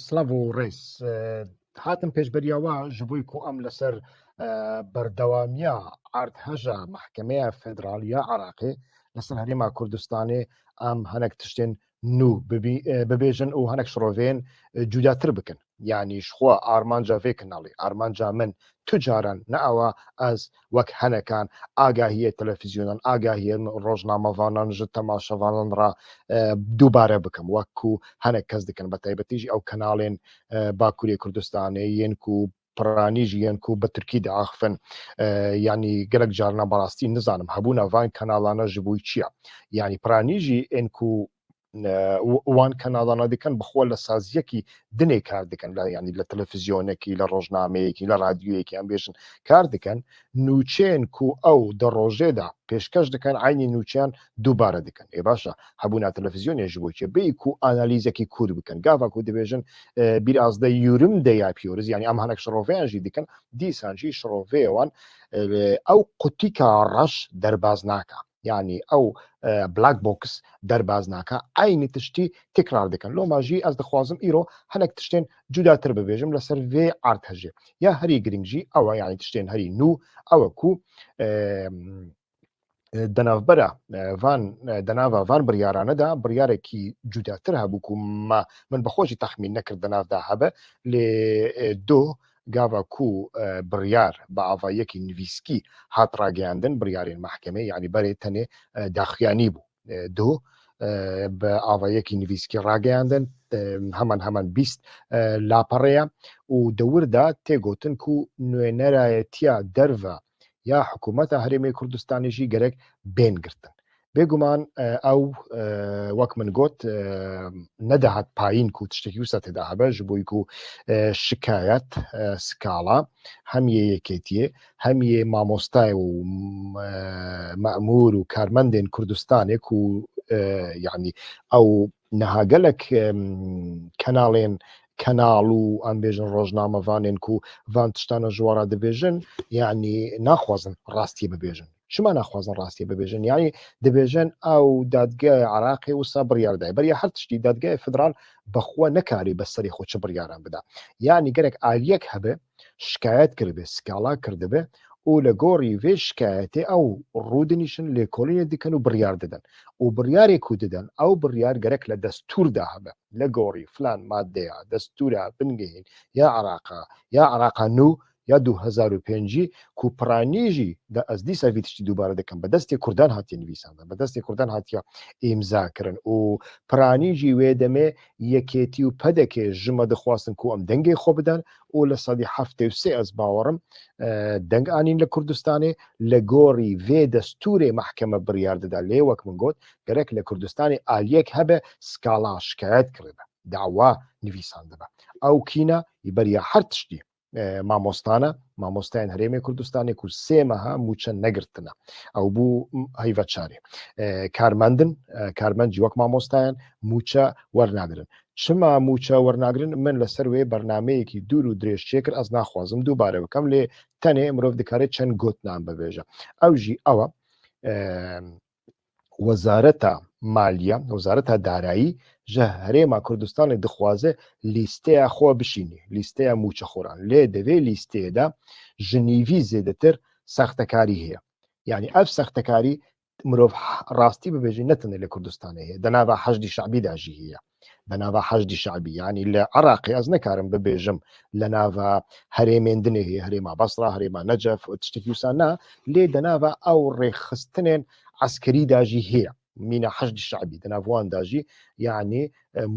Slavo Rês hatin pêşberiya we ji bo ku em li ser berdewamiya erdheja Mehkemeya Federaliya Iraqê li ser Herêma Kurdistanê em hinek tiştên nû bibêjin û hinek şiroveyên cudatir bikin. Yanî ji xwe armanca vê kanalê, armanca min tu caran ne awa ez wek henekan agahiyê telefîzyonan, agahiyê rojnamevanan ji temaşevanan re dubare bikim wek ku henek kes dikin bi taybetî jî ew kanalên Bakurê Kurdistanê yên ku piranî jî yên ku bi tirkî diaxivin. Yanî gelek carinan bi rastî nizanim hebûna van kanalana ji bo çi ye. Yanî piranî jî ên ku wan kenadana dikin bi xwe li saziyekî dinê kar dikin yanî li televîzyonekî li rojnameyekî li radyoyekî em bêjin kar dikin nûçeyên ku ew di rojê de pêşkeş dikin eynî nûçeyan dubare dikin ê baş e hebûna televîzyonê ji bo çi bêyî ku analîzekî kûr bikin gava ku dibêjin biraz de yûrim de yapyoruz yanî em hinek şiroveyan jî dikin dîsan jî şiroveyê wan ew qutîka reş derbaz naka yanî ew black box derbas nake eynî tiştî tekrar dikin. Loma jî ez dixwazim îro hinek tiştên cudatir bibêjim li ser vê artêjê. Ya herî girîng jî ew e yanî tiştên herî nû ew e ku di navbera van di nava van biryaran de biryarekî cudatir hebû ku me min bi xwe jî texmîn nekir di nav de hebe lê doh Gava ku biryar bi avayekî nivîskî hat rageyandin, biryarên mehkemeyê yanî berê tenê daxuya nîbû. Duh bi avayekî nivîskî rageyandin, heman heman bîst lapare ye û di wir de tê gotin ku nûênerayetiya derve ya hikûmeta Herêmê Kurdistanê jî gerek bên girtin. Bêguman ew wek min got nedihat payîn ku tiştekî wisa tê de hebe ji bo ku şikayet skala hem yê yekêtiyê hem yê mamostayê û memûr û karmendên Kurdistanê ku yanî ew niha gelek kenalên kanal û em bêjin rojnamevanên ku van tiştan e ji wan re dibêjin yanî naxwazin rastiyê bibêjin. Çima naxwazin rastiyê bibêjin? Yanî dibêjin ew dadgehê Iraqê wisa biryar daye. Beriya her tiştî dadgehê federal bi xwe nekarî bi serê xwe çi biryaran bida. Yanî gerek aliyek hebe şikayet kiribe, skala kirdibe û li gorî vê şikayetê ew rûdinîşin, lêkolînê dikin û biryar didin û biryarê ku didin ew biryar gerek li destûr de hebe. Li gorî filan madeya destûra bingehîn ya Îraqa, ya Îraqa nû ya du hezar û pêncî ku piranî jî de ez dîsa vî tiştî dubare dikim bi destê kurdan hatiye nivîsandin, bi destê kurdan hatiye îmzakirin û piranî jî wê demê yekêtî û pdk ji me dixwastin ku em dengê xwe bidin, û li sedî heftê û sê ez bawer im deng anîn li Kurdistanê, li gorî vê destûrê mehkeme biryar dide lê wek min got gerek li Kurdistanê aliyek hebe skala şikayet kiribe, dawa nivîsandibe. Ew kîna yî beriya her tiştî mamostan e, mamosteyên Herêmê Kurdistanê ku sê meha mûçe negirtine ew bû heyveçarê. Karmendin, karmend jî wek mamostayan mûçe wernagirin. Çima mûça wernagirin? Min li ser wê bernameyekî dûr û dirêj çêkir, ez naxwazim dubare bikim lê tenê mirov dikare çend gotinan bibêje. Ew jî ew e, Wezareta Maliye, Wezareta Darayî ji Herêma Kurdistanê dixwaze lîsteya xwe bişînî, lîsteya mûçexoran. Lê di vê lîsteyê de ji nîvî zêdetir sextekarî heye. Yanî ev sextekarî mirov rastî bibêjî ne tenê li Kurdistanê heye di nava heşdî şebî de jî heye di nava heşdî şebî yanî li Iraqê ez nekarim bibêjim li nava herêmên dinê heye herêma Basra herêma Necef û tiştekî wisa na lê di nava ew rêxistinên eskerî de jî heye mîna heşdî şebî di nav wan de jî yanî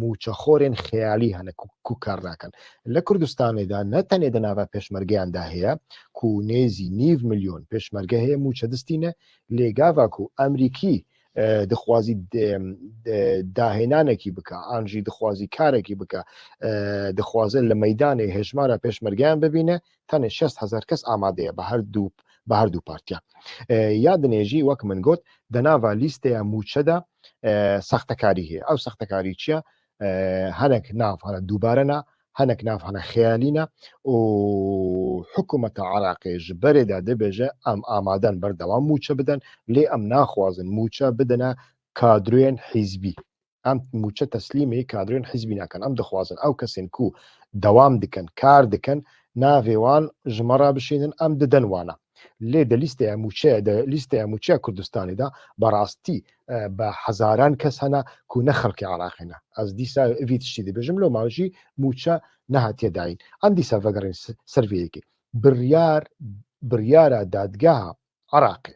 mûçexorên xeyalî hene ku kar nakin. Li Kurdistanê de ne tenê di nava pêşmergeyan de heye ku nêzî nîv milyon pêşmerge heye mûçe distîne lê gava ku Emrîkî dixwazî dahênanekî bike an jî dixwazî karekî bike dixwaze li meydanê hejmara pêşmergeyan bibîne Tenê şest hezar kes amade ye bi her du partiyan. Ya dinê jî wek min got di nava lîsteya mûçe de sextekarî heye. Ew sextekarî çi ye? Hinek nav hene dubare ne, hinek nav hene xeyalî ne û hikûmeta Iraqê ji berê de dibêje em amaden berdewam mûçe bidin lê em naxwazin mûçe bidine kadroyên hîzbî. Em mûçe teslîmê kadrên hizbî nakin. Em dixwazin ew kesên ku dewam dikin, kar dikin, navê wan ji me re bişênin, em didin wana. Lê di lîsteya mûçe di lîsteya mûçeya Kurdistanê de bi rastî bi hezaran kes hene ku ne xelkê Iraqê ne. Ez dîsa vî tiştî dibêjim lê ma jî mûçe nehatiye dayîn. Em dîsa vegerîn ser vê yekê. Biryar biryara dadgeha Iraqê.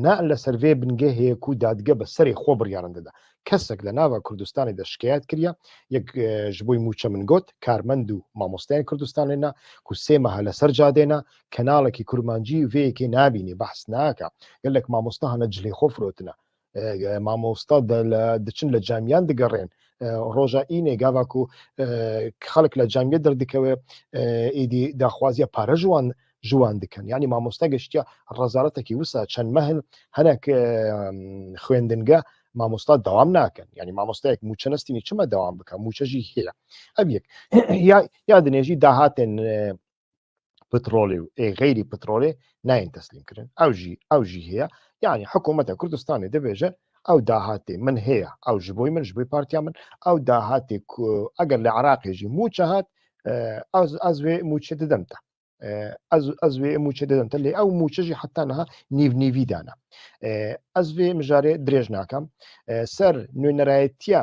Ne li ser vê bingehê ye ku dadge bi serê xwe biryaran dide. Kesek li nava Kurdistanê de şikayet kiriye, yek ji bo mûçe min got, karmend û mamosteyên Kurdistanê ne ku sê meha li ser cadê ne, kanalekî kurmancî vê yekê nabînî, behs nake. Gelek mamoste hane cilê xwe firotine. Mamosta diçin li camiyan digerên. Roja înê gava ku xelk li camiyê derdikeve êdî daxwaziya pare ji wan ji wan dikin. Yanî mamosta geştiya rezaretekî wisa çend meh in hinek xwendinge mamosta dewam nakin. Yanî mamostayek mûçe nestînî çima dewam bike mûçe jî heye. Ev yek ya ya dinê jî dahatên petrolê û ê xeyrî petrolê nayên teslîmkirin. Ew jî ew jî heye. Yanî hikûmeta Kurdistanê dibêje ew dahatê min heye, ew ji bo min, ji bo partiya min, ew dahatê ku eger li Iraqê jî mûçe hat ez ez vê mûçe didim te. Ez ez vê mûçe didim te lê ew mûçe jî heta niha nîvnîvî dane. Ez vê mijarê dirêj nakim. Ser nûnerayetiya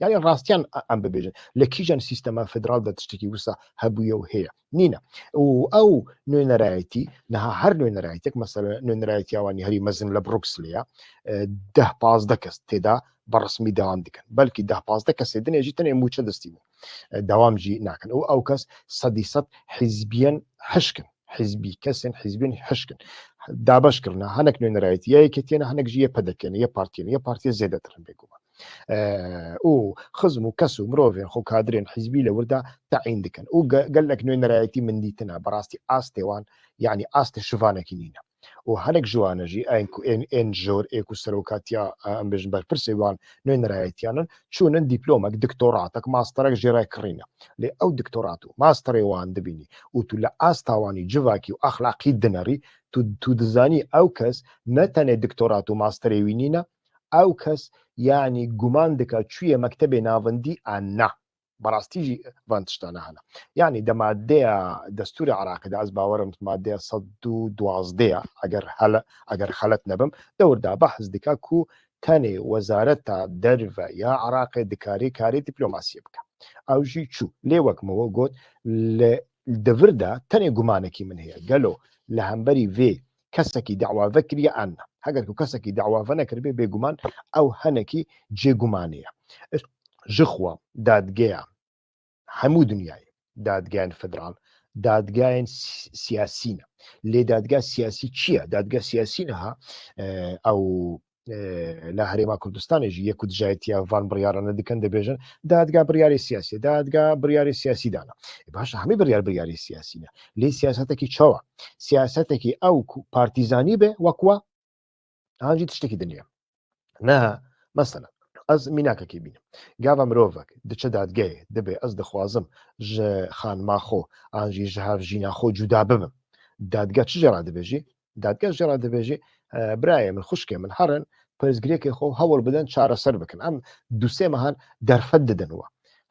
Yani rastiyan em bibêjin li kîjan sîstema federal de tiştekî wisa hebûye û heye nîne û ew nûnerayetî niha her nûnerayetek mesela nûnerayetiya wanî herî mezin li Brukslê ye deh pazdeh kes têda bi resmî dewam dikin belkî deh pazdeh kesê din ê jî tenê mûçe distîbûn dewam jî nakin û ew kes sedî sed hizbiyen hişkin hizbî kesên hizbên hişkin dabeş kirine hinek nûnerayetî ye yeketiyene hinek jî ye pedekiyene ye partiyene ye partiye zêdetir bêguman û xizm û kes û mirovên xwe kadrên hîzbî li wir de teyîn dikin û gelek nûnerayetî min dîtine bi rastî astê wan yanî astê şivanekî nîne û hinek ji wan e jî ên ku ên ên jor ê ku serokatiya em bêjin berpirsê wan nûnerayetiyan in çûnin dîplomek diktoratek masterek jê re kirîne lê ew diktorat û masterê wan dibînî û tu li asta wanî civakî û exlaqî dinerî tu tu dizanî ew kes ne tenê diktorat û masterê wî nîne Ew kes yanî guman dike çûye mektebê navendî a na. Bi rastî jî van tiştane hene. Yanî di madeya destûrê Iraqê de, ez bawer im di madeya sed û duwazdeh ya eger hele eger xelet nebim, dewr da behs dike ku tenê wezareta derve ya Iraqê dikarê karê dîplomasiyê bike. Ew jî çû. Lê wek min we got li devir de tenê gumanekî min heye. Gelo li hemberî vê kesekî dewa vekiriye an ne. Heger ku kesekî dewa venekiribê bêguman ew henekî cê gumanê ye. Ez ji xwe, dadgeya hemû dinyayê, dadgeyên federal, dadgeyên siyasî ne. Lê dadgeya siyasî çi ye? Dadgeya siyasî niha ew li Herêma Kurdistanê jî yek ku dijayetiya van biryarane dikin dibêjin dadga biryarê siyasî dadga biryarê siyasî dana e baş hemî biryar biryarê siyasî ne lê siyasetekî çawa siyasetekî ew ku partîzanî be wek wa an jî tiştekî diniye neha mesela ez mînakekê bînim gava mirovek diçe dadgeyê dibe ez dixwazim ji xanima xwe an jî ji hev jîna xwe cuda bibim dadga çi jê re dibêjî Dadger jî re dibêjî birayê min, xwişkê min herin pirsgirêkê xwe hewl bidin çareser bikin. Em du sê mehan derfet didin we.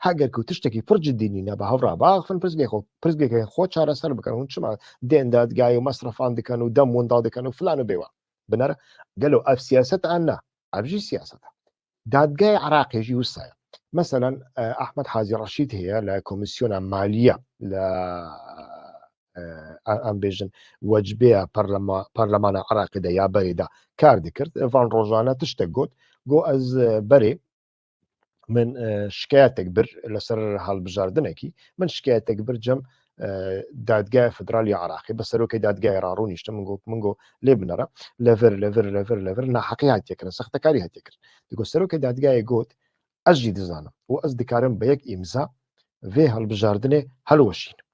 Heger ku tiştekî pir cidî nîne bi hev re biaxivin pirsgirêkê xwe, pirsgirêkên xwe çareser bikin. Hûn çima dên dadgehê û mesrefan dikin û dem winda dikin û filan û bêwan? Binêre gelo ev siyaset e? Na, ev jî siyaset e. Dadgehê Iraqê jî wisa ye. Meselen Ahmed Hazî Reşîd heye li Komîsyona Maliye li em bêjin wecbêya Parlemana Iraqê de ya berê de kar dikir. Van rojane tiştek got got ez berê min şikeyetek bir li ser halbijardinekî min şikeyetek bir cem Dadgeha Federal ya Iraqê bi serokê dadgehê ra rûniştim min got min got lê binêre li vir li vir li vir li vir naheqî hatiye kirin sextekarî hatiye kirin di got serokê dadgehê got ez jî dizanim û ez dikarim bi yek îmza vê hilbijardinê hilweşînim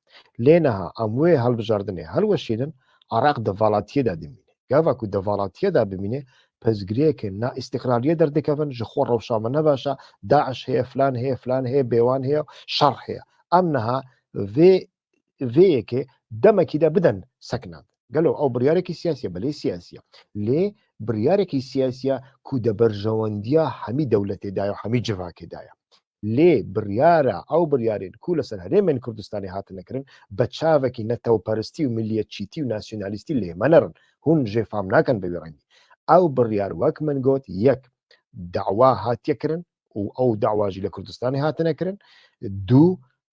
lê niha em wê hilbijardinê hilweşînin Iraq di valatiyê de dimîne Gava ku di valatiye de bimîne pirsgirêkên na îstîqrariyê derdikevin, ji xwe rewşa min ne baş e, DAIŞ heye, filan heye, filan heye, bêwan heye û şer heye. Em niha vê vê yekê demekî de bidin seknand. Gelo ew biryarekî siyasî ye? Belê siyasî ye. Lê biryarekî siyasî ye ku di berjewendiya hemî dewletê de ye û hemî civakê de ye. lê biryara ew biryarên ku li ser herêmên Kurdistanê hatine kirin bi çavekî netewperistî û miliyetçîtî û nasyonalîstî lê me nerin, hûn jê fam nakin bi wî rengî. Ew biryar wek min got yek dawa hatiye kirin û ew dawa jî li Kurdistanê hatine kirin, du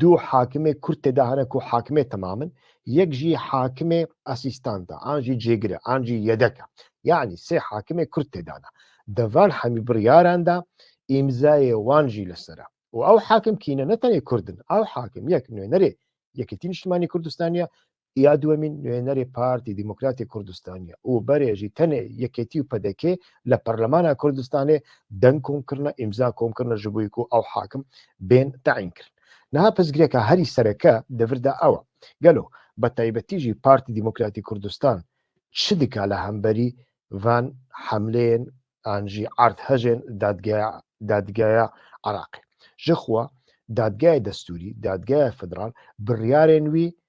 Du hakimê Kurd tê de hene ku hakimê temam in, yek jî hakimê asîstant e, an jî cêgir e, an jî yedek e. Yanî sê hakimê Kurd tê de ne. Di van hemî biryaran de îmzayê wan jî li ser e. Û ew hakim kî ne ne tenê Kurd in. Ew hakim yek nûnerê Yekîtî Niştimanî Kurdistanî ye, Ya duwemîn, nûyenerê Partî Demokratê Kurdistanî û berê jî tenê Yekêtî û pdk li Parlemana Kurdistanê deng kom kirine, îmza kom kirine ji bo ku ew hakim bên tayîn kirin. Niha pirsgirêka herî sereke di vir de ew e, gelo bi taybetî jî Partî Demokratê Kurdistan çi dike li hemberî van hemleyên an jî erdhejên Dadgeya Iraqê? Jixwe Dadgeya Destûrî, Dadgeya Federal biryarên wî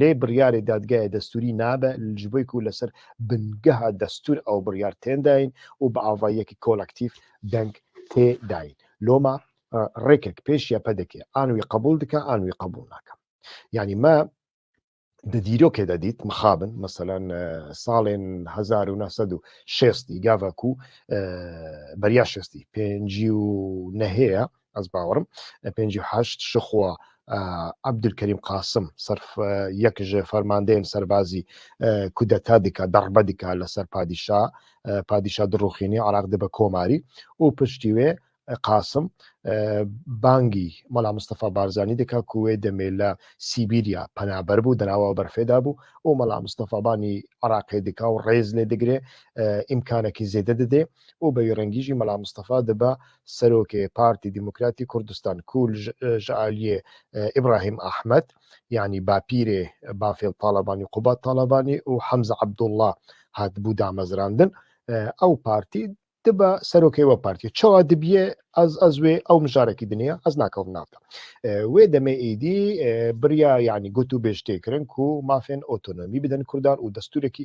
Lê biryarê dadgehê destûrî nabe ji bo ku li ser bingeha destûr ew biryar tên dayîn û bi avayiyekî kolektîf deng tê dayîn. Loma rêkek pêş ye pdk an wî qebûl dike an wî qebûl nake. Yanî me di dîrokê de dît mixabin meselan salên hezar û neh sed û şêstî gava ku beriya şêstî pêncî û nehê ye Ez bawerim pêncî û heşt ji xwe Abdulkerîm Qasim serf yek ji fermandeyên serbazî kudeta dike darbe dike li ser padîşa padîşa dirûxînî Iraq dibe komarî û piştî wê Qasim bangî Mala Mustafa Barzanî dike ku wê demê li Sîbîrya penaber bû di nawa berfê de bû û Mala Mustafa Banî Iraqê dike û rêz lê digire îmkanekî zêde didê û bi wî rengî jî Mela Mistefa dibe Serokê Partî Demokratî Kurdistan ku ji aliyê Îbrahîm Ehmed yanî bapîrê Bafêl Talebanî Qubat Talebanî û Hemze Abdullah hatibû damezrandin ew partî dibe serokê we partî çawa dibiye ez ez wê ew mijarekî diniya ez nakewm nav de wê demê êdî biriya yanî gotûbêj tê kirin ku mafên otonomî bidin kurdan û destûrekî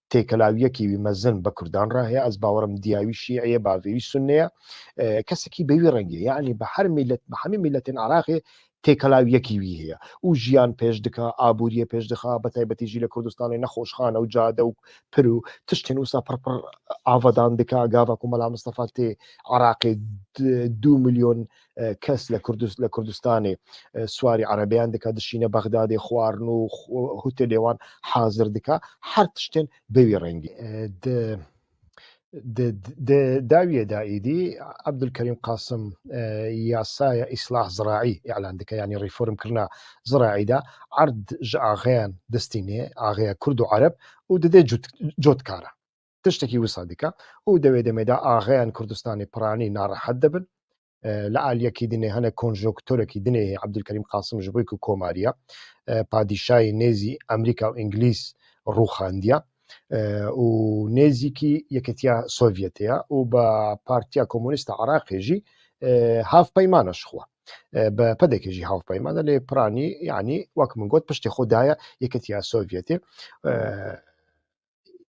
têkelawiyekî wî mezin bi kurdan re heye. Ez bawer im diya wî şîî ye, bavê wî sunni ye. Kesekî bi wî rengê yanî bi her mîlet bi hemî mîletên Iraqê têkelawiyekî wî heye û jiyan pêş dike, aboriyê pêş dixe, bi taybetî jî li Kurdistanê nexweşxane û cade û pir û tiştên wisa pir pir avadan dike. Gava ku Mela Mistefa tê Iraqê du milyon kes li li Kurdistanê swarî erebeyan dike dişîne Bexdadê xwarin û hûtê lê wan hazir dike her tiştên bi wî rengî di di dawiyê de êdî Ebdulkerîm Qasim yasaya îslah ziraî îlan dike yanî rîformkirina ziraî de erd ji axeyan distîne axeya Kurd û Ereb û didê cotkara. Tiştekî wisa dike û di wê demê de axeyên Kurdistanê piranî narehet dibin. Li aliyekî dinê hene konjonktorekî dinê hê Ebdulkerîm Qasim ji bo ku komariya padîşayê nêzî Amerîka û Îngilîz rûxandiya û nêzîkî Yeketiya Sovyetê ya û bi Partiya Komûnîst a Iraqê jî hevpeyman e ji xwe. Bi PDKê jî hevpeyman e lê piranî yanî wek min got piştê xwe daye Yeketiya Sovyetê.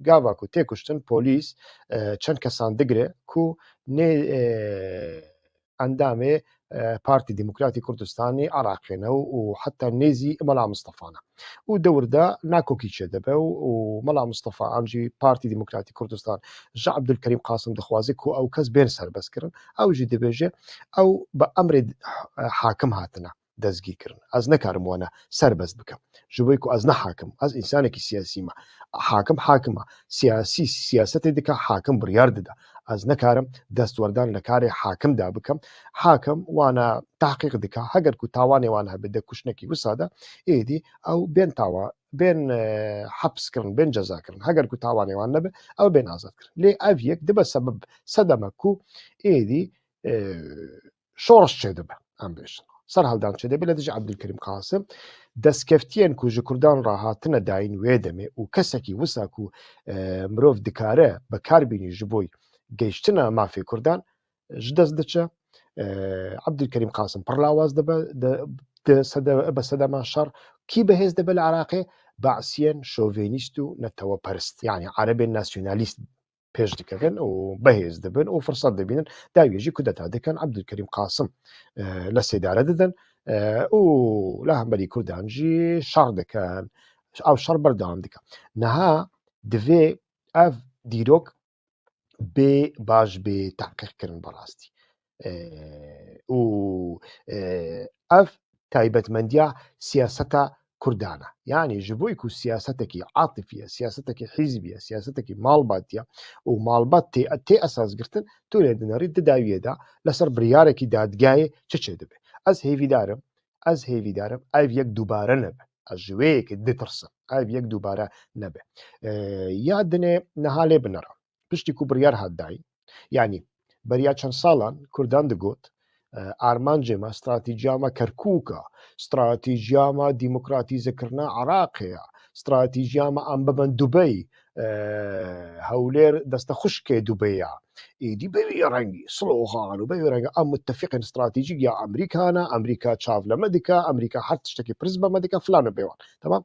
Gava ku tê kuştin polîs çend kesan digire ku nê endamê Partî Demokratî Kurdistanê Iraqê ne û heta nê zî Mela Mistefa ne. Û dewr de nakokî çêdibe û Mela Mistefa an jî Partî Demokratî Kurdistan ji Ebdulkerîm Qasim dixwaze ku ew kes bên serbestkirin. Ew jî dibêje ew bi emrê hakim hatine. dezgîr kirin. Ez nikarim wana serbest bikim. Ji bo ku ez ne hakim, ez însanekî siyasî me. Hakim hakim e. Siyasî siyasetê dike, hakim biryar dide. Ez nikarim destwerdan li karê hakim de bikim. Hakim wana tahqîq dike. Heger ku tawanê wan hebe di kuştinekî wisa de êdî ew bên tawa bên heps kirin, bên ceza kirin. Heger ku tawanê wan nebe ew bên azad kirin. Lê ev yek dibe sebeb sedeme ku êdî şorş çêdibe em bêjin. Ser heldan çêdibe lê dijî Abdülkerim Kasim destkeftiyên ku ji Kurdan re hatine dayîn wê demê û kesekî wisa ku e, mirov dikare bikar bînî ji bo geyştina mafê Kurdan ji dest diçe. E, Abdülkerim Kasim pir lawaz dibe bi sedema şer kî bi hêz dibe li Iraqê Basiyên şovenîst û neteweperist yani erebên nasyonalîst pêş dikevin û behêz dibin û firsat dibînin dawiyê jî kudeta dikin Ebdulkerîm Qasim li sêdare didin û li hemberî Kurdan jî şer dikin ew şer berdewam dike niha divê ev dîrok bê baş bê teqîqkirin bi rastî û ev taybetmendiya siyaseta Kurdan e. Yanî ji bo ku siyasetekî atifî ye, siyasetekî hîzbî ye, siyasetekî malbatî ye û malbat tê tê esas girtin, tu lê di nerî di dawiyê de li ser biryarekî dadgehê çi çê dibe. Ez hêvîdar im, ez hêvîdar im ev yek dubare nebe. Ez ji wê yekê ditirsim. Ev yek dubare nebe. Ya dinê niha lê binira. piştî ku biryar hat dayîn yanî beriya çend salan Kurdan digot armancê me stratîjiya me Kerkûk e, stratîjiya me demokratîzekirina Iraqê ye, stratîjiya me em bibin Dubey, Hewlêr deste xuşkê Dubey ye. Êdî bi vî rengî slogan û bi vî rengî em mutefîqên stratîjîk ya Amerîkan e, Amerîka çav li me dike, Amerîka her tiştekî pirs bi me dike filan û bêwan. Temam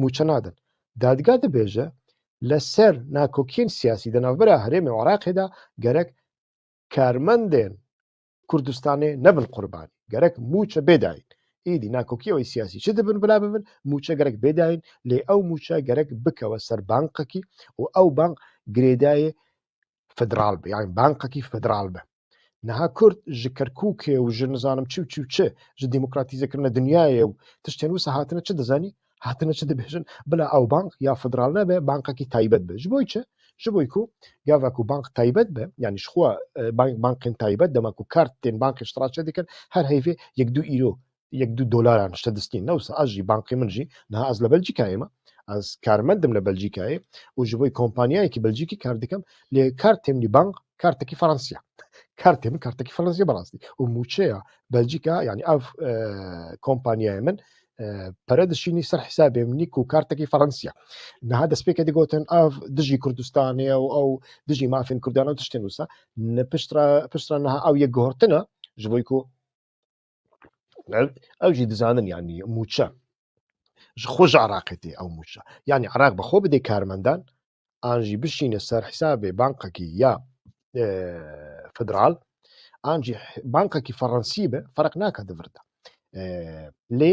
mûçe nadin. Dadga dibêje li ser nakokiyên siyasî di navbera herêmê û Iraqê de gerek karmendên Kurdistanê nebin qurbanî, gerek mûçe bê dayîn. Îdî nakokiya wê siyasî çi dibin bila bibin, mûçe gerek bê dayîn, lê ew mûçe gerek bikewe ser banqekî û ew banq girêdayê federal be yani bankekî federal be. Niha Kurd ji Kerkûkê û ji nizanim çi û çi û çi ji demokratîzekirina dinyayê û tiştên wisa hatine çi dizanî hatine çi dibêjin bila ew bank ya federal nebe bankekî taybet be ji bo çi ji bo ku gava ku bank taybet be yanî ji xwe e, bankên taybet dema ku kart tên bankê ji tra çe dikin her heyvê yek du îro yek dû dolaran ji te distîn ne wisa ez jî bankê min jî niha ez li Belcîkayê me ez karmendim li Belcîkayê û ji bo kompanyayekî Belcîkî kar dikim lê kartê min jî bank kartekî Fransî ye kartê min kartekî Fransî bi rastî û mûçeya Belcîka yanî ev kompanyayê min pere dişînî ser hesabê min nî ku kartekî Fransî ye niha destpêkê digotin ev dijî Kurdistanê û ew dijî mafên Kurdan û tiştên wisa piştra piştra niha ew yek guhortina ji bo ku ew jî dizanin yanî mûçe ji xwe ji Iraqê tê ew mûçe yanî Iraq bi xwe bidê karmendan an jî bişîne ser hesabê bankekî ya e, federal an jî bankekî Fransî be ferq nake di vir de. E, lê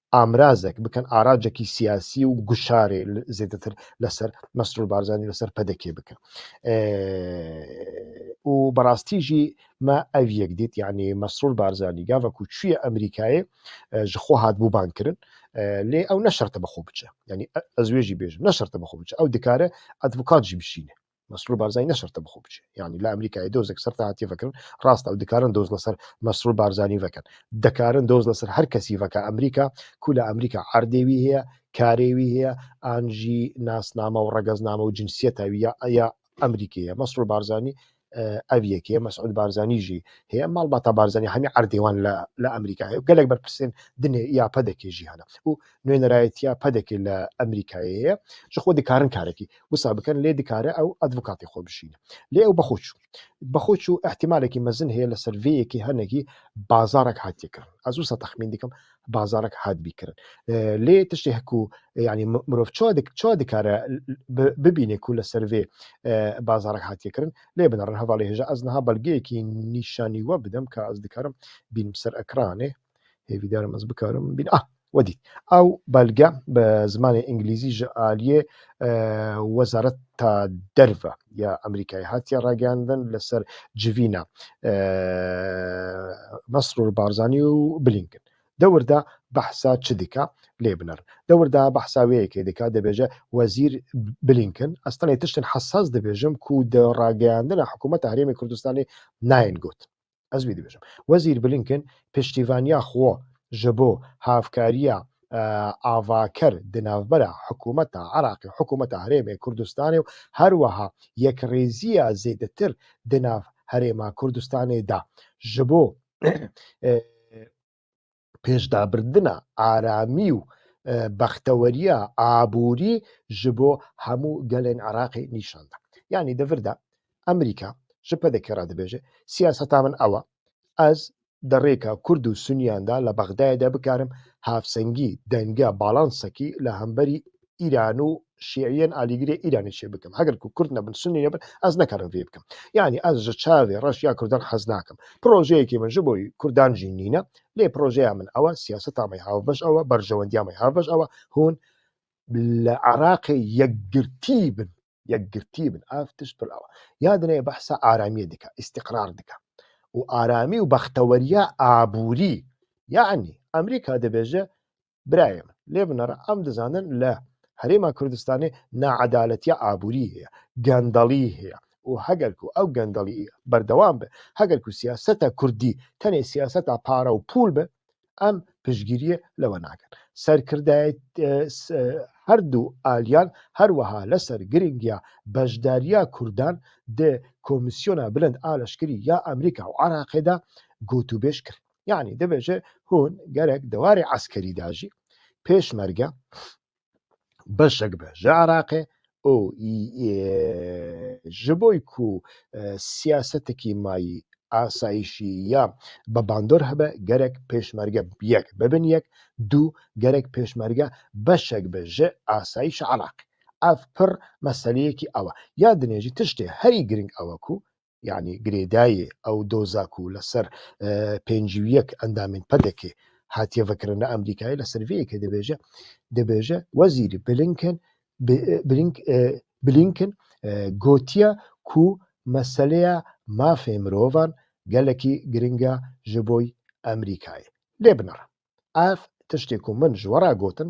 amrazek bikin, aracekî siyasî û guşarê zêdetir li ser Mesrûr Barzanî li ser PDK'ê bikin. Û bi rastî jî me ev yek dît yanî Mesrûr Barzanî gava ku çûye Amerîkayê ji xwe hat bûban kirin lê ew ne şerte bi xwe biçe. Yanî ez wê jî bêjim ne şerte bi xwe biçe. Ew dikare advokat jî bişîne. Mesrûr Barzanî ne şerte bi xwe biçe. Yanî li Amerîkayê dozek ser te hatiye vekirin, rast e ew dikarin doz li ser Mesrûr Barzanî vekin. Dikarin doz li ser her kesî veke Amerîka ku li Amerîka erdê wî heye, karê wî heye an jî nasname û regezname û cinsiyeta wî ya ya Amerîkî ye. Mesrûr Barzanî ev yekê ye, Mesûd Barzanî jî heye. Malbata Barzanî hemî erdê wan li Amerîka heye û gelek berpirsên dinê ya pedekê jî hene. Û Nûnerayetiya PDK'ê li Amerîkayê ye. Ji xwe dikarin karekî wisa bikin lê dikare ew advokatê xwe bişîne. Lê ew bixwe çû. Bixwe çû îhtîmalekî mezin heye li ser vê yekê hinekî bazarek hatiye kirin. Ez wisa texmîn dikim bazarek hatibî kirin. Lê tiştê ku yanî mirov çawa dikare bibîne ku li ser vê bazarek hatiye kirin. Lê binarin hevalê hêja ez niha belgeyekî nîşanî we bidim ka ez dikarim bînim ser ekranê. Hêvîdar im ez bikarim bîn ah we dît ew belge bi zimanê îngilîzî ji aliyê wezareta derve ya Amerîkayê hatiye ragihandin li ser civîna Mesrûr Barzanî û Blinken. Dewir de behsa çi dike lê binir. Dewir de behsa wê yekê dike dibêje Wezîr Blinken ez tenê tiştên hesas dibêjim ku di ragihandina hikûmeta Herêmê Kurdistanê nayên got. Ez wî dibêjim. Wezîr Blinken piştîvaniya xwe ji bo hevkariya avaker di navbera hikûmeta Iraqê, hikûmeta Herêmê Kurdistanê û her wiha yekrêziya zêdetir di nav Herêma Kurdistanê da ji bo pêşdabirina aramî û bexteweriya aborî ji bo hemû gelên Iraqê nîşan da. Yanî di vir de Amerîka ji PDK re dibêje, siyaseta min ew e, ez di rêka Kurd û Suniyan de li Bexdayê de bikarim havsengî, denge, balansekî li hemberî Îran û Şîîyên alîgirê Îranê çê bikim. Heger ku Kurd nebin, Sunnî nebin, ez nikarim vê bikim. Yanî ez ji çavê reş ya Kurdan hez nakim. Projeyekê min ji bo Kurdan jî nîne. Lê projeya min ew e, siyaseta me hevbeş ew e, berjewendiya me hevbeş ew e, hûn li Iraqê yekgirtî bin. Yekgirtî bin. Ev tişt pir ew e. Ya dinê behsa aramiyê dike, îstîqrar dike. Û aramî û bexteweriya aborî. Yanî Amerîka dibêje Birayê min lê binare em dizanin li Herêma Kurdistanê needaletiya aborî heye, gendelî heye û heger ku ew gendelî berdewam be, heger ku siyaseta kurdî tenê siyaseta pare û pûl be em piştgiriyê li we nakin. Serkirdeyetî her du aliyan her wiha li ser girîngiya beşdariya kurdan di Komîsyona Bilind a Leşkerî ya Amerîka û Iraqê de gotûbêj kirin. Yanî dibêje hûn gerek di warê eskerî de jî pêşmerge beşek be ji Iraqê û ji bo ku siyasetekî mayî asayîşî ya bi bandor hebe gerek pêşmerge yek bibin yek dû gerek pêşmerge beşek be ji asayîşa Iraqê. Ev pir meseleyekî ew e. Ya dinê jî tiştê herî girîng ew e ku yanî girêdayê ew doza ku li ser pêncî û yek endamên PEDEKê hatiye vekirin li Amerîkayê li ser vê yekê dibêje dibêje Wezîrî Blinken Blinken gotiye ku meseleya mafê mirovan gelekî giring e ji bo Amerîkayê. Lê binira ev tiştê ku min ji we re gotin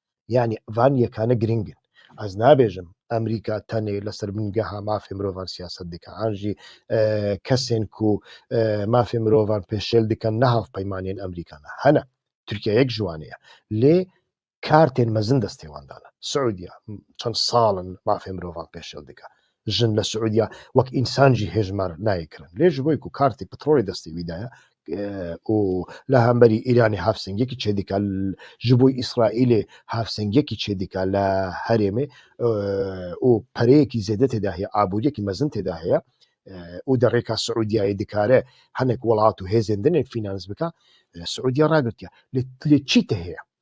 Yanî van yekane girîng in. Ez nabêjim Amerîka tenê li ser bingeha mafê mirovan siyaset dike an jî kesên ku mafê mirovan pêşêl dikin ne hevpeymanên Amerîka ne. Hene Tirkiye yek ji wan e. Lê kartên mezin destê wan dane. Siûdiya çend sal in mafê mirovan pêşêl dike. Jin li Siûdiya wek însan jî hêjmar nayê kirin. Lê ji bo ku kartê petrolê destê wî de ye û li hemberî Îranê hevsengiyekî çêdike, ji bo Îsraîlê hevsengiyekî çêdike li herêmê û pereyekî zêde tê de heye, aboriyekî mezin tê de heye û di rêka Siûdiyayê dikare hinek welat û hêzên din ê fînans bike, Siûdiya ragirtiye. Lê çî tê heye?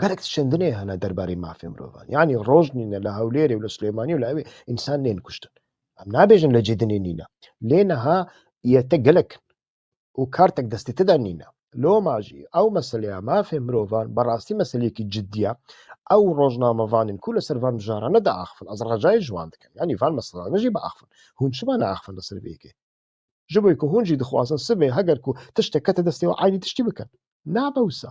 Gelek şindinê hene derbarê mafê mirovan. Yanî roj nîne li Hewlêrê û li Silêmanî û li hevê însan nên kuştin. Em nabêjin li Cedinê nîne. Lê niha yete gelek in û kartek destê te de nîne. Loma jî ew meseleya mafê mirovan bi rastî meseleyekî cidî ye. Ew rojnamevanên ku li ser van mijarane diaxivin ez recayê ji wan dikim. Yanî van meselane jî biaxivin. Hûn çima neaxivin li ser vê yekê? Ji bo ku hûn jî dixwazin sibê heger ku tiştek kete destê wan eynî tiştî bikin. Nabe wisa.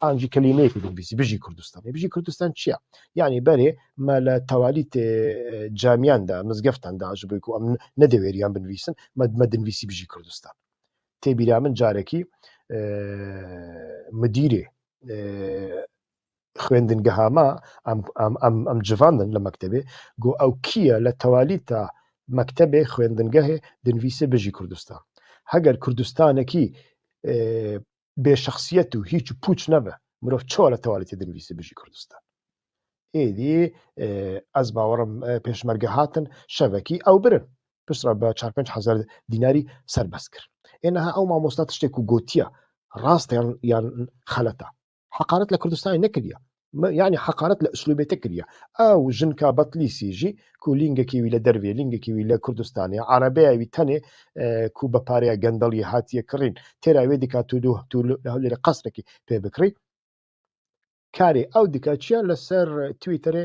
an jî kelîmeyekî binivîsî Bijî Kurdistan. Bijî Kurdistan çi ye? Yanî berê me li tewalî tê camiyan de, mizgeftan de ji bo ku em nedewêriyan binivîsin, me me dinivîsî Bijî Kurdistan. Tê bîra min carekî midîrê xwendingeha me em em em em civandin li mektebê ku ew kî ye li tewalî te mektebê xwendingehê dinivîsê Bijî Kurdistan. Heger Kurdistanekî bê şexsiyet û hîç û pûç nebe. Mirov çawa li tewalîtê dinivîse Bijî Kurdistan. Êdî e, ez bawerim e, pêşmerge hatin şevekî ew birin. Pirsra bi çar pênc hezar dînarî serbest kir. Ê niha ew mamosta tiştê ku gotiya rast yan yan xeleta. Heqaret li Kurdistanê nekiriye. یعنی heqaret li uslûbê te kiriye. Ew jinka Betlîsî jî ku lîngekî wî li dervê, lîngekî wî li Kurdistanê, erebeya wî tenê e, ku bi pareya gendeliyê hatiye kirîn, têra wê dika tu dû tu li Hewlêrê qesrekî pê bikirî. Karê ew dike çi ye li ser Twitterê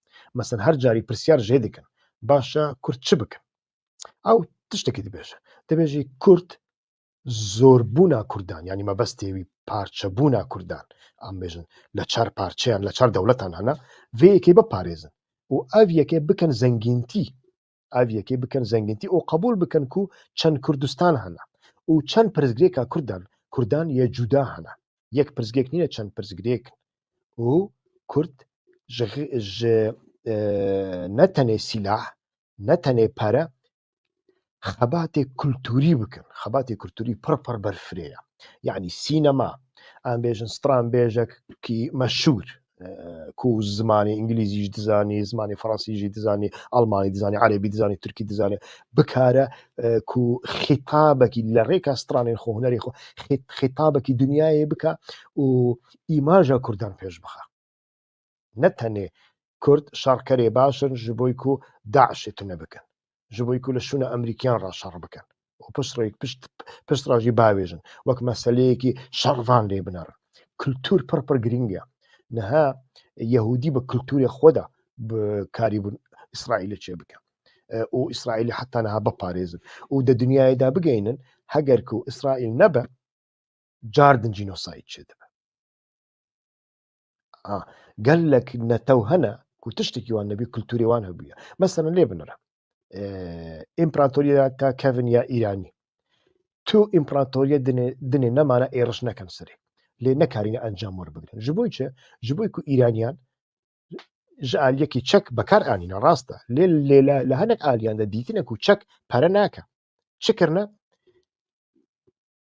Mesela her carî pirsyar jê dikin baş e kurd çi bikin? Ew tiştekî dibêje. Dibêjî kurd zorbûna kurdan yanî mebestê wî parçebûna kurdan em bêjin li çar parçeyan li çar dewletan hene vê yekê biparêzin û ev yekê bikin zengîntî ev yekê bikin zengintî û qebûl bikin ku çend Kurdistan hene û çend pirsgirêka Kurdan Kurdan yê cuda hene. Yek pirsgirêk nîne çend pirsgirêk in û Kurd ji ji e, ne tenê sîlah, ne tenê pere xebatê kulturî bikin. Xebatê kulturî pir pir berfirê ye. Yanî sînema, em bêjin stranbêjek kî meşhûr, ku zimanê îngilîzî jî dizanî, zimanê fransî jî dizanî, almanî dizanî, erebî dizanî, tirkî dizanî bikare ku xîtabekî li rêka stranên xwe hunerê xwe xîtabekî dinyayê bike û îmaja Kurdan pêş bixe. Ne tenê Kurd şerkerê baş in ji bo ku DAIŞê tune bikin. ji bo ku li şûna Amerîkiyan re şer bikin û pişt re jî biavêjin wek meseleyekî şervan lê binerin. Kultur pir pir girîng e. Niha Yehûdî bi kulturê xwe de karî bûn İsraîlê çê bikin û İsraîlê heta niha biparêzin û di dinyayê de bigeynin heger ku İsraîl nebe car din jînosayîd çê dibe. gelek netew hene ku tiştekî wan nebî kulturê wan hebûye. Mesela lê binire împeratoriya ka kevin ya Îranî. Tu împeratoriye dinê dinê nemana êriş nekin serê. Lê nekarîne encam were bigirin. Ji bo çi? Ji bo ku Îraniyan ji aliyekî çek bekar anîne rast e. Lê lê li hinek aliyan de dîtine ku çek pere nake. Çi kirine?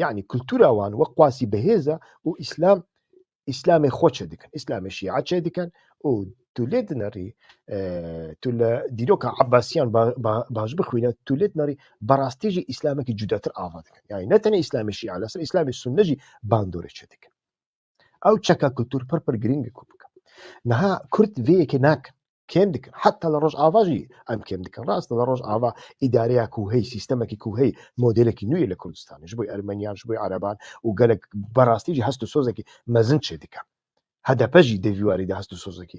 Yanî kultura wan wek qasî bi hêz e û îslam îslamê xwe çêdikin, îslamê şîa çêdikin û tu lê dinerî tu li dîroka Ebasiyan baş bixwîne tu lê dinerî berastî jî îslamekî cudatir ava dikin. Yanî ne tenê îslamê şîa li ser îslamê sunne jî bandorê çêdikin. Ew çeka kultur pir pir girîng e ku bikin. Niha Kurd vê yekê nakin. Kêm dikin. Heta li Rojava jî em kêm dikin. Rast e li Rojava îdareya ku hey, sîstemekî ku hey modelekî nû ye li Kurdistanê ji bo Ermeniyan, ji bo Ereban û gelek bi rastî jî hest û sozekî mezin çêdike. HDP jî di vî warî de hest û sozekî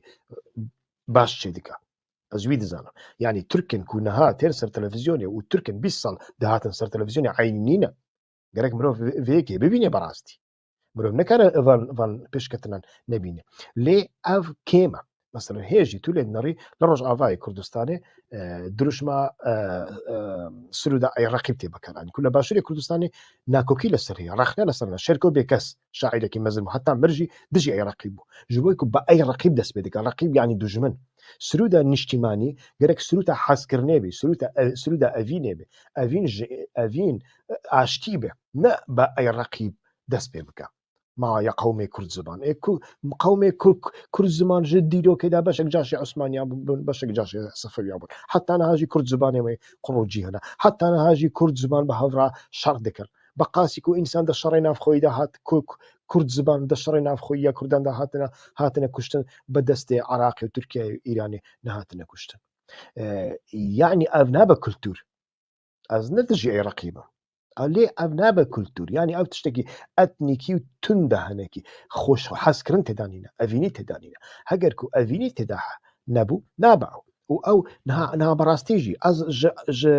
baş çêdike. Ez wî dizanim. Yanî Tirkin ku niha tên ser televîzyonê û Tirkin bîst sal dihatin ser televîzyonê eynî nîne. Gerek mirov vê yekê bibîne bi rastî. Mirov nikare van van pêşketinan nebîne. Lê ev kême. Mesela hêjî tu lê dinarî li Rojavayê Kurdistanê e, dirûşma e, e, Sûrûda Iraqî tê bikaranî. Ku li Başûrê Kurdistanê nakokî li ser heye, rexne li ser heye. Şerko bêkes şaîrekî mezin bû. Heta mir jî dijî Iraqî bû. Ji bo ku bi Iraqî dest pê dike. Raqîb yanî dujmin. Sûrûda niştîmanî gerek sûrûta hezkirinê bê, sûrûta e, sûrûda evînê bê. Evîn ji evîn e, aştî be. ne bi ey reqîb dest pê bike. Ma ya qewmê Kurdziman ê ku qewmê Kurdziman ji dîrokê de beşek caşê Osmaniyan bûn, beşek caşê Sefewiyan bûn. Heta niha jî Kurdzimanê wê qurûcî hene. Heta niha jî Kurdziman bi hev re şer dikir. Bi qasî ku însan di şerê navxweyî de hat Kurdziman di şerê navxweyî ya Kurdan de hatine hatine kuştin bi destê Iraqê û Tirkiyeyê û Îranê nehatine kuştin. Yanî ev nabe kultûr. Ez ne dijî Iraqî bim. Lê ev nabe kultur. Yani ev tiştekî etnîkî û tunda hinekî xweş hezkirin têda nîne. Evînî têda nîne. Heger ku evînî têda nebû nabe ew. Û ew niha niha bi rastî jî ez ji ji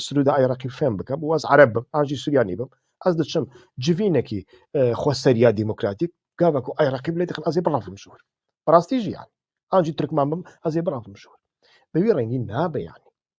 Sirûda Iraqî fêm bikim û ez ereb bim an jî Suryanî bim. Ez diçim civînekî e, xweseriya demokratîk gava ku Iraqî bilê dixin ez ê birafim ji wir. Bi rastî jî yani. An jî Tirkman bim ez ê birafim ji wir. Bi wî rengî nabe yani.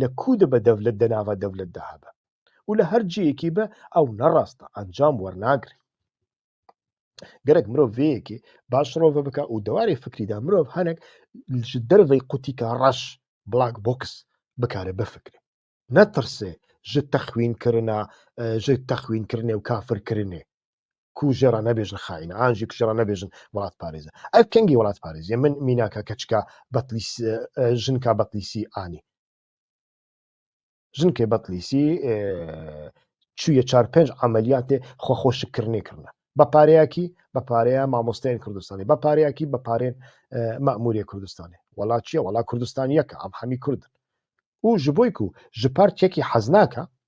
li ku dibe dewlet di nava dewlet de hebe û li her cihêkî be ew ne rast e, encam wernagire. Gerek mirov vê yekê baş rove bike û di warê fikrî de mirov hinek ji dervê qutîka reş black box bikare bifikre. Netirse ji texwînkirina ji texwînkirinê û kafirkirinê ku ji re nebêjin xaîn an jî ku ji re nebêjin welatparêz e. Ev kengî welatparêzî ye. Min mînaka keçika Betlîs jinka Betlîsî anî. Jinkê Betlîsî çûye çar pênc emeliyatê xwexweşikkirinê kirine. Bi pareyekî bi pareya mamosteyên Kurdistanê, bi pareyekî bi parên memûrê Kurdistanê. Wela çi ye? Wela Kurdistan yek e, em hemî Kurd in. Û ji bo ku ji par çekî hez nake,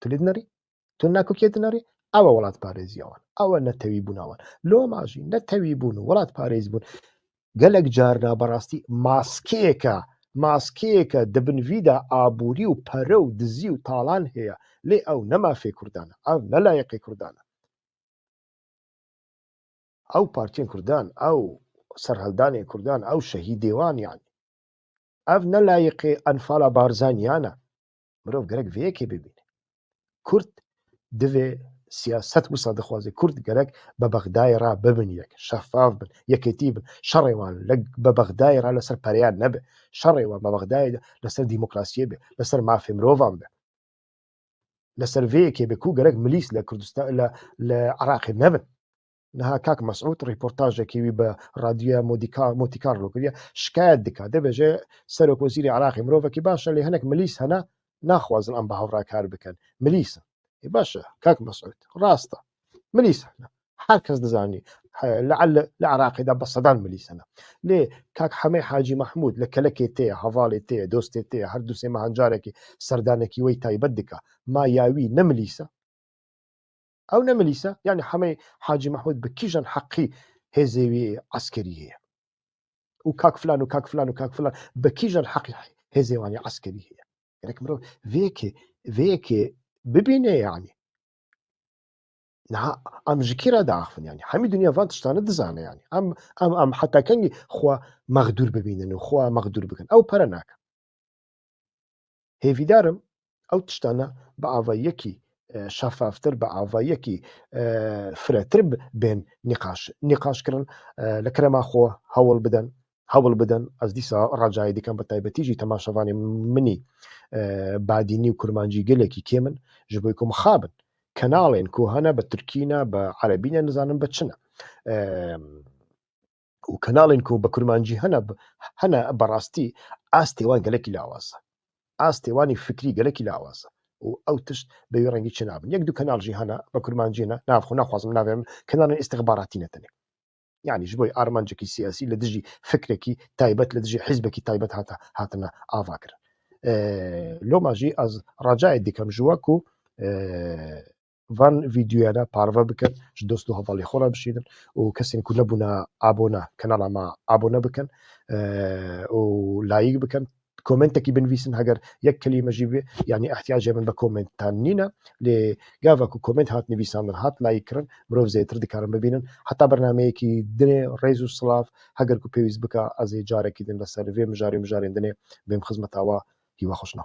Tu lê dinarî? Tu na ku kê dinarî? Ew e welatparêziya wan. Ew e netewîbûna wan. Loma jî netewîbûn û welatparêzbûn gelek car na bi rastî maskeyeke maskeyeke di bin vî de aborî û pere û dizî û talan heye. Lê ew ne mafê Kurdan e. Ev ne layiqê Kurdan e. Ew partiyên Kurdan, ew serhildanên Kurdan, ew şehîdê wan yanî. Ev ne layiqê enfala Barzaniyan e. Mirov gerek vê yekê bibîne. Kurd divê siyaset wisa dixwazê Kurd gerek bi Bexdayê re bibin yek, şefav bin, yekêtî bin. Şerê wan bi Bexdayê re li ser pereyan nebe. Şerê wan bi Bexdayê de li ser demokrasiyê be, li ser mafê mirovan be. Li ser vê yekê be ku gerek milîs li Kurdistan li Iraqê nebin. Niha kak Mesûd rîportajekî wî bi radyoya Motikarlo kiriye, şikayet dike, dibêje Serokwezîrê Iraqê mirovekî baş e lê hinek milîs hene naxwazin em bi hev re kar bikin. Milîs in. Ê baş e kak Mesûd, rast e. Milîs hene. Her kes dizanî. Le'l li Iraqê de bi sedan milîs hene. Lê kak Hemê Hacî Mehmûd li kelekê tê ye, hevalê tê ye, dostê tê ye, her du sê mehan carekî serdanekî wey taybet dike. Ma ya wî ne milîs e? Ew ne milîse, yanî hemê Hacî Mehmûd bi kîjan heqî hêzê wî eskerî heye? Û kak filan û kak filan û kak filan bi kîjan heqî hêzê wan ya eskerî heye? Gerek mirov vê yekê vê yekê bibîne yanî. Niha em ji kî re diaxivin yanî? Hemî dinya van tiştane dizane yanî. Em em em heta kengî xwe mexdûr bibînin û xwe mexdûr bikin. Ew pere nakin. Hêvîdar im ew tiştane bi ava yekî şefaftir, bi ava yekî firetir bên nîqaş nîqaşkirin li kerema xwe hewl bidin hewl bidin ez dîsa recayê dikim bi taybetî jî temaşevanê minî badînî û kurmancî gelekî kêm in ji bo ku mixabin kenalên ku hene bi tirkî ne bi erebî ne nizanim bi çi ne û kanalên ku bi kurmancî hene hene bi rastî astê wan gelekî lawaz e. Astê wanî fikrî gelekî lawaz e û ew tişt bi wî rengî çinabin. Yek du kanal jî hene bi kurmancî ne nav xwe naxwazim navê min kanalên îstixbaratî ne tenê. Yanî ji bo armancekî siyasî li dijî fikrekî taybet li dijî hîzbekî taybet hate hatine avakirin. Loma jî ez racayê dikim ji we ku van vîdyoyan e parve bikin, ji dost û hevalên xwe re bişînin û kesên ku nebûne abone kanala me abone bikin û layîk bikin. Komentekî binivîsin heger yek kelîme jî bê yanî ihtiyacê min bi komentan nîne lê gava ku koment hat nivîsandin hat layîk kirin mirov zêtir dikarin bibînin heta bernameyekî dinê rêz û silav heger ku pêwîst bike ez ê carekî din li ser vê mijarê mijarên dinê bêm xizmeta we hîwa xwe şina.